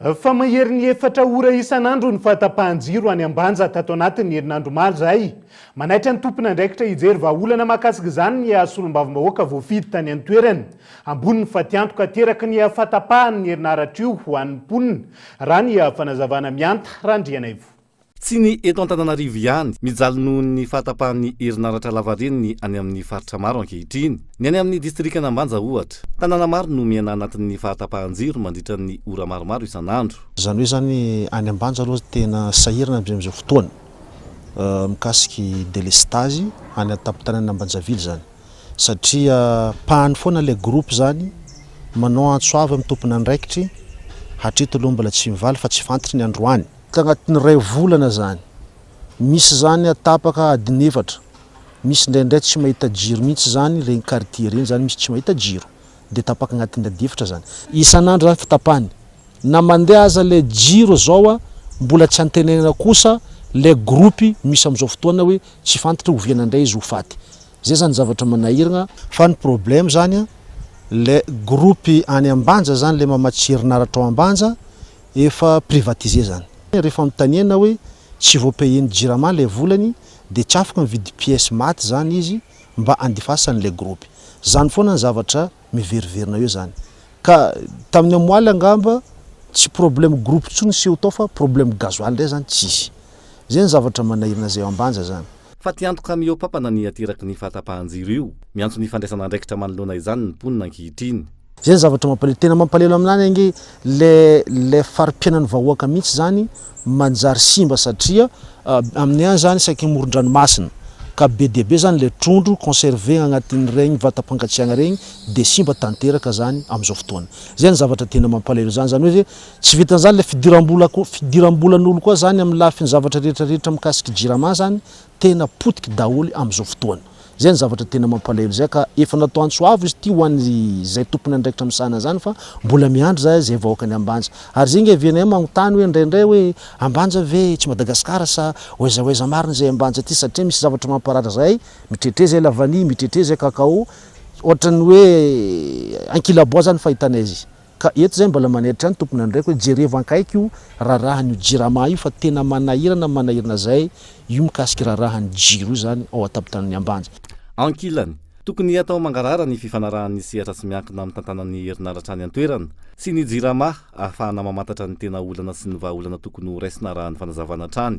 Fa maherin'ny efatra ora isan'andro ny fahatapahan-jiro any Ambanja tato anatin'ny herinandro omaly izay. Manaitra ny tompon'andraikitra hijery vahaolana mahakasika izany ny haha solombavambahoaka voafidy tany an-toerana. Ambony ny fatiantoka ateraky ny hafatapahan'ny herinaratra io ho an'ny mponina, raha ny fanazavana mianta Randrianaivo. Tsy ny eto Antananarivo ihany, mijaly noho ny fahatapahan'ny herinaratra lavareny ny any amin'ny faritra maro ankehitriny. Ny any amin'ny distrikan'Ambanja, ohatra. Tanàna maro no miaina anatin'ny fahatapahan-jiro mandritra ny ora maromaro isan'andro. Izany hoe izany, any Ambanja aloha tena sahirana amin'izao fotoana mikasika ny delestazy any an-tampon-tanànan'i Ambanjavily izany. Satria pahany foana ilay groupe izany, manao antso avo amin'ny tompon'andraikitry, hatreto aloha mbola tsy mivaly fa tsy fantatra ny androany. Tagnatin'ny iray volana izany. Misy izany a tapaka adiny efatra. Misy indraindray tsy mahita jiro mihitsy izany ireny quartier ireny izany misy tsy mahita jiro. Dia tapaka agnatin'ny ady efatra izany. Isan'andro izany fitapany. Na mandeha aza ilay jiro izao a, mbola tsy antenaina kosa ilay groupe misy amin'izao fotoana hoe tsy fantatra oviana indray izy ho faty. Izay izany zavatra manahiragna. Fa ny problème izany a, ilay groupe any Ambanja izany ilay mamatsy herinaratra ao Ambanja, efa privatiser izany. Rehefa fanontaniana hoe tsy vo payer ny jirama ilay volany dia tsy afaka mividy pièce maty izany izy mba handefasany ilay groupe. Izany foana ny zavatra miveriverina eo izany. Ka tamin'ny amoaly angamba tsy problème groupe intsony ny seho tao fa problème gasoil indray izany tsisy. Izay ny zavatra manahirana izay eo ambanja izany. Fa tsy antoka mihoa-pampana ny ateraky ny fahatapahan-jiro io. Miantso ny fandraisana andraikitra manoloana izany ny mponina ankehitriny. Zay ny zavatra mampalelo, tena mampalelo aminany ange le le farimpiainan'ny vahoaka mihitsy zany manjary simba satria aminay any zany saika morondranomasina ka be dia be zany le trondro conserver agnatin'regny vatam-pangatsiagna regny de simba tanteraka zany amizao fotoana zay ny zavatra tena mampalelo zany zany hoe Tsy vitan'izany ilay fidiram-bola koa, fidiram-bolan'olo koa zany amin'ny lafiny zavatra rehetra rehetra mikasiky jirama zany tena potiky daholo amin'izao fotoana. Zay ny zavatra tena mampalahelo zay ka efa natao antso avo izy ity ho an'ny zay tompony andraikitra misahana zany fa mbola miandry zay zay vahoakan'i Ambanja. Ary zay nge VNM magnontany hoe indraindray hoe Ambanja ve tsy Madagasikara sa ho aiza ho aiza marina izay Ambanja ty satria misy zavatra mamparary zay mitretré zay la vanille mitretré zay cacao ohatran'ny hoe ankilabao zany fahitana izy. Ka eto zay mbola manaitra ny tomponandraiko hoe jerevo ankaiky io rarahan'io jirama io fa tena manahirana ny manahirana zay io mikasiky rarahan'ny jiro io zany ao an-tapotanan'ny Ambanja. Ankilany, tokony atao mangarahara ny fifanarahan'ny sehatra tsy miankina amin'ny tantanan'ny herinaratra any an-toerana sy ny jirama ahafahana mamantatra ny tena olana sy ny vahaolana tokony ho raisina arahan'ny fanazavana hatrany.